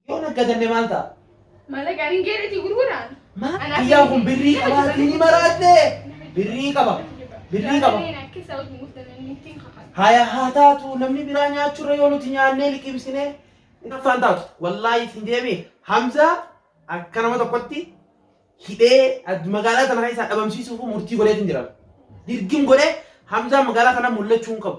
Yoo naggadanne maal ta'a? Malaqaan hin geereetii gurguraan. Maal guyyaan kun birrii qabaatii ni maraatte? Birrii qaba. Birrii qaba. Haya haa taatu namni biraa nyaachurra yoo nuti nyaannee liqimsinee naffaan taatu. Wallaahi isin deemee Hamzaa akka nama tokkotti hidhee ad- magaalaa tana keessaa dhabamsiisuuf murtii godheetiin jira. Dirgim godhee Hamzaa magaalaa kana mul'achuu hin qabu.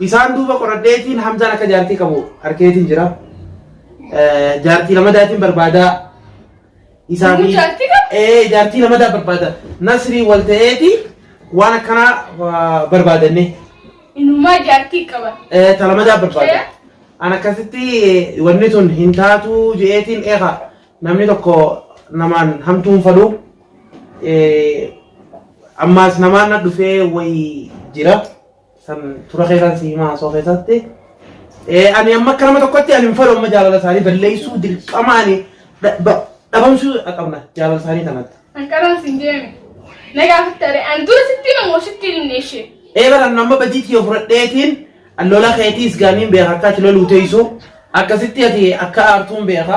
Isaan duuba qoradheetiin Hamzaan akka jaartii qabu harkeetiin jira. Jaartii lamadaatiin barbaada. Isaa fi Jaartii qaba? ee jaartii lamadaa barbaada. Nasrii wal ta'eeti waan akkanaa barbaadanne. Inumaa jaartii qaba. Ee ta lamadaa barbaada. An akkasitti wanni tun hin taatu je'eetiin eega namni tokko namaan hamtuun fadhu. Ammaas namaan na dhufee wayii jira. san tura keessan si himaa soo keessatti Eh, ani amma akka nama tokkotti ani hin fedhu amma jaalala isaanii balleessuu dirqama ani dha- ba- dhabamsuu qabna jaalala isaanii kanatti. Ankaraan siin deeme. Na gaafatte aree an dura sitti himan moo sitti hin neeshe. Ee bara ani amma badii kiyya fudhadheetiin lola keetiis gaaniin beeka akka ati loluu teessu akkasitti ati akka aartuun beeka.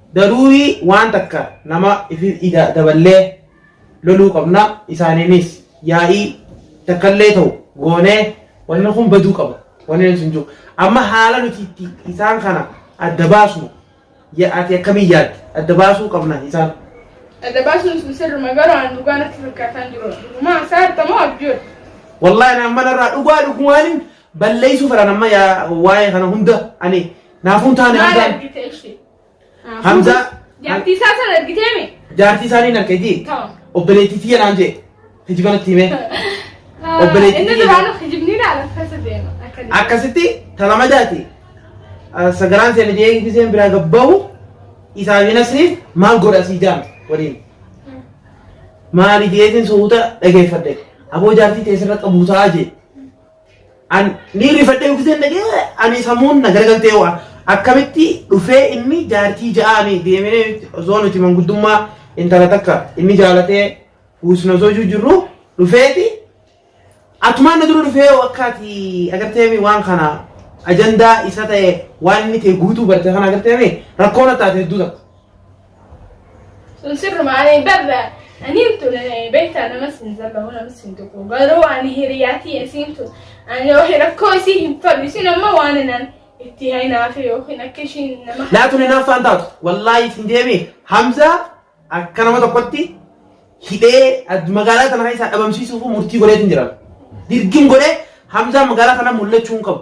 Daruurii waan takka nama ifi ida daballee loluu qabna isaaniinis yaa'ii takkallee ta'u goonee wanni kun baduu qaba wanni nuti hin jiru amma haala nuti itti isaan kana adda baasnu ya- ati akkamiin yaadde adda baasuu qabna isaan Adda baasuun sun sirruma garuu aan dhugaa natti fakkaataan jiru. Dhugumaa isaa argamoo abjuu? wallahi naan manarraa dhugaa dhugumaaniin Balleessuu fedhan amma yaa waa'ee kana hunda ani naafuun taane Maal Hamzaan argite ishee? Hamzaa Jaartii isaa sana argitee mi? jaartii isaanii hin argiti Ta'u. obboleettii tiyya naan jee hiji kanatti himee Obboleettii Inni tiyya. duraan kijibni ilaala keessa deema. Akka deema. akkasitti talama jaati sagaraan seena jee giseen biraa gabbaa'u isaa fi nasriif maal godha sii jaam waliin maali jeetiin suuta dhageeffadhe aboo jaartii teessirra qabuusaa jee An ni rifadhee uffiseen dhagee ani sammuun na garagaltee waa akkamitti dhufee inni jaartii ja'aani deemee osoo nuti manguddummaa intala takka inni jaalatee buusna osoo jiru jirru dhufeeti atumaan na dura dhufee wakkaati agarteemi waan kana ajandaa isa ta'e waan inni ta'e guutuu barte kana agarteemi rakkoon attaate hedduu takka. Sun sirruma ani barra ani tun beektaa namas hin zallahu namas hin tuqu garuu ani hiriyaatii isiin tun ani wahi rakkoo isii hin fadhu isin amma waan inan itti hainaafi yookiin akka ishiin nama Laatu ni naaffaan taatu. Wallaahi isin deemee Hamzaa akka nama tokkotti hidhee ad- magaalaa kana keessaa dhabamsiisuuf murtii godheetiin jira. Dirgim godhee Hamzaa magaalaa kana mul'achuu hin qabu.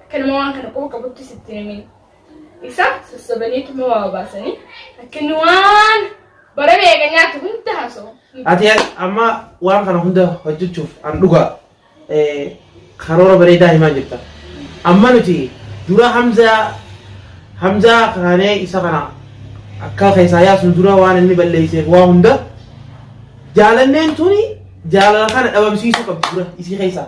Kanuma waan kana quba qabutti sitti himin. Ibsaa sassabaneetuma waa baasanii akka inni waan bara meeqa nyaatu hunda haasa'u. Ati amma waan kana hunda hojjechuuf an dhugaa eh, karoora bareedaa himaa jirta. Amma nuti dura Hamzaa Hamzaa kaanee isa kana akka keessaa yaasun dura waan inni balleesseef waa hunda jaalanneen tuni jaalala kana dhabamsiisuu qabdi dura isii keessaa.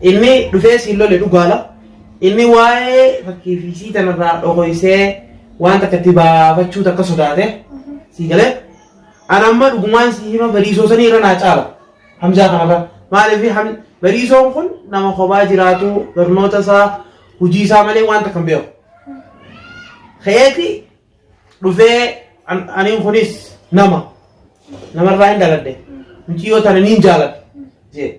Ilmi dhufee siin lole dhugaala. Ilmi waa'ee fakkii fi sii tanarraa dhokoysee waan takka itti baafachuu takka sodaate. Sii galee. Ana amma dhugumaan sii hima bariisoo sanii irra naa caala. Hamzaa kanarra. Maaliif ham bariisoon kun nama kophaa jiraatu barnoota isaa hojii isaa malee waan takka hin beeku. Keeti dhufee an- aniin kunis nama namarraa hin dhaladhe muciyyoo tana niin jaaladha jee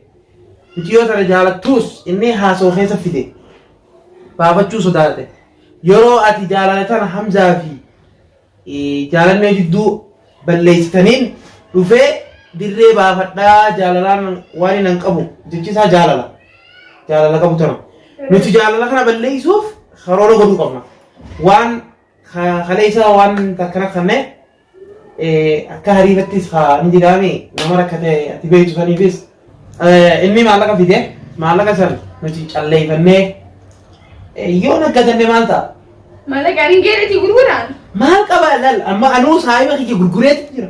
muciyyoo tana jaalattuus inni haasoo keessa fide baafachuu sodaate yeroo ati jaalala tana hamzaa fi eh, jaalannee jidduu balleessitaniin dhufee dirree baafadhaa jaalalaan waan hin qabu jechi isaa jaalala jaalala qabu tana nuti jaalala kana balleessuuf karoora godhuu qabna waan Kale isaa waan takka rakkanne akka hariifattis haa ni jedhaami nama rakkate ati beektu saniifis inni maallaqa fide maallaqa san nuti calleeffannee yoo naggatanne maal ta'a? Maallaqa ani geerati gurguraan. Maal qaba lal amma anuu saayiba kiyya gurgureetti jira.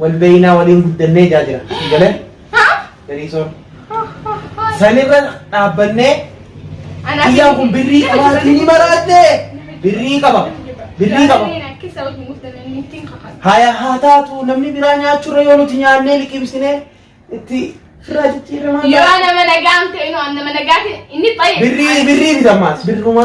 Wal beeynaa waliin guddannee jaa jira. Sii galee? Beriisoon. Sanirra dhaabbannee Kiyyaan kun birrii qabaatii ni maraatte. Birrii qaba. Birrii qaba. Haya haa taatu namni biraa nyaachurra yoo nuti nyaannee liqimsine itti irraa jijjiiramaa. Yoo nama nagaan ta'e inni nama nagaa ta'e inni baay'ee. Birrii birrii bitamaas birruma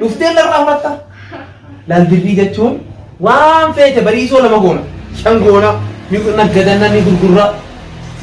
Dhuftee narraa fudhatta. Laal birrii jechuun waan feete bariisoo lama goona. Shan goona. Ni naggadanna ni gurgurra.